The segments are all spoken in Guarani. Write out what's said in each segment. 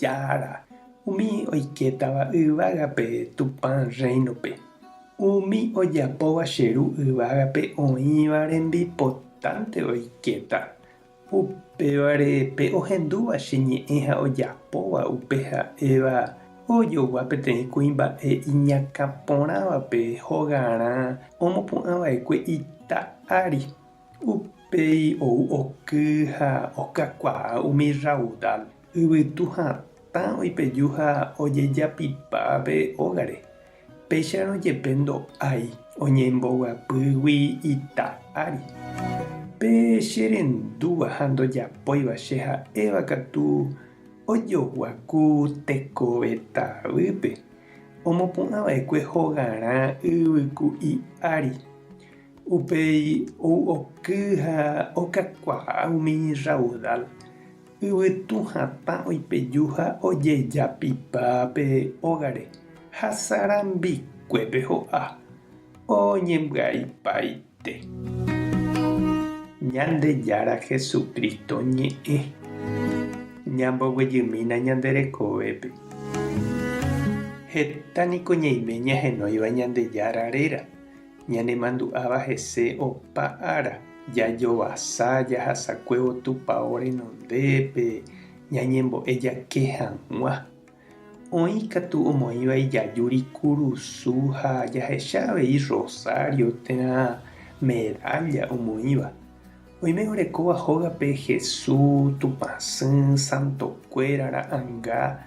Jára, umi oikétava yvágape Tupã Rréinope, umi ojapóva che Ru yvágape oĩva rembipotánte oikéta, upévare pe ohendúva che ñe'ẽ ha ojapóva upe ha'éva ojogua peteĩ kuimba'e iñakã porãvape hogarã omopu'ã vaekue ita ári. Upéi ou oky ha okakuaa umi raudal Yvytu hatã oipeju ha ojejapipa pe ógare, péicharõ jepe ndo'ái oñembovyapýgui ita ári. Pe che rendúva ha ndojapóiva che ha'éva katu ojoguaku tekove tavýpe, omopu'ã va'ekue hogarã yvyku'i ári. Upéi ou oky ha okakuaa umi raudal, Yvytu hatã oipeju ha ojejapipa pe ógare, ha sarambikuépe ho'a, oñembyaipaite. Ñandejára Jesucristo ñe'ẽ, ñamboguejymína ñande rekovépe. Heta niko ñaime ñahenóiva Ñandejára réra. Ñanemandu'áva hese opa ára, jajovasa jahasakuévo Tupao renondépe ñañembo'e jake hag̃ua. Oĩ katu omoĩva ijajúri kurusu ha jahecha avei rosario térã medálla omoĩva. Oime orekóva hógape Hesu, Tupãsy, santokuéra, ra'anga,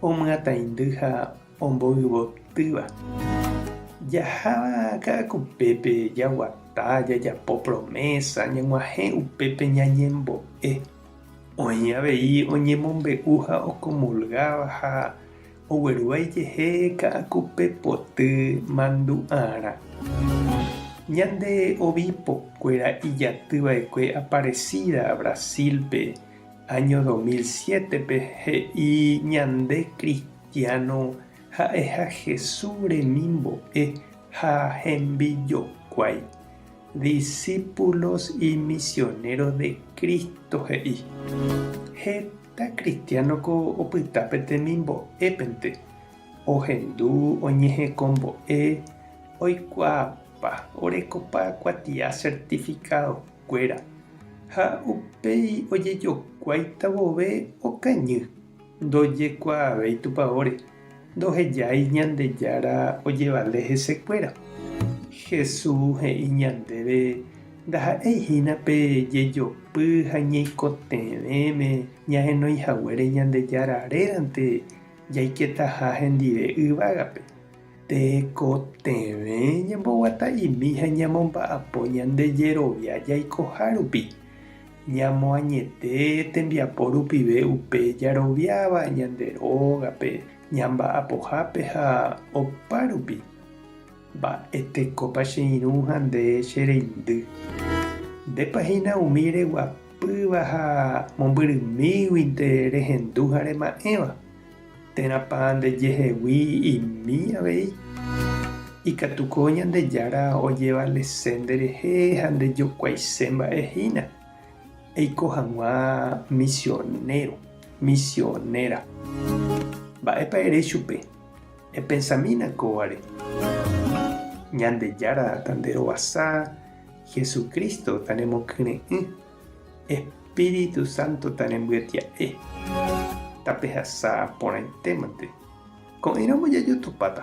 omyatãindy ha omboyvotýva. Jaháva ka'akupépe jaguata, jajapo promésa, ñag̃uahẽ upépe ñañembo'e. Oĩ avei oñemombe'u ha okomulgáva ha ogueruaijehe ka'akupe poty mandu'arã. Ñande obispokkuéra ijatyva'ekue aparesída Brasil-pe áño 2007-pe he'i ñande Cristo. Cristiano ha'eha Jesús remimbo'e ha hembijokuái, discípulos y misioneros de Cristo he'i. Heta kristiánoko opyta pe temimbo'épente, ohendu oñehekombo'e, oikuaapa, orekopa kuatia certificadokuéra ha upéi ojejokuáita vove okañy Ndojekuaavéi Tupãóre, ndohejái Ñandejára ojevale hesekuéra. Jesús he'i ñandéve ndaha'éi hína pe jejopy ha ñeikotevẽme ñahenoihaguére Ñandejára rérante jaiketaha hendive yvágape. Tekotevẽ ñamboguata'imi ha ñamomba'apo ñande jerovia jaikoha rupi. Ñamoañete tembiapo rupive upe jaroviáva ñande rógape, ñamba'apohápe ha opárupi. Mba'e tekópa che irũ ha nde che reindy? Ndépa hína umi reguapýva ha mombyrymíguinte rehendu ha rema'ẽva? Térãpa ndejehegui imi avei? Ikatuko Ñandejára ojevalese nderehe ha ndejokuaise mba'e hína. Eiko hag̃ua misionéro, misionéra. Mba'épa ere chupe? Epensamína kóvare. Ñandejára tanderovasa, Jesucristo tanemokyre'ỹ. Espíritu Santo tarembyatia'e, tapehasa porãitémante, ko'ẽramo jajotopáta.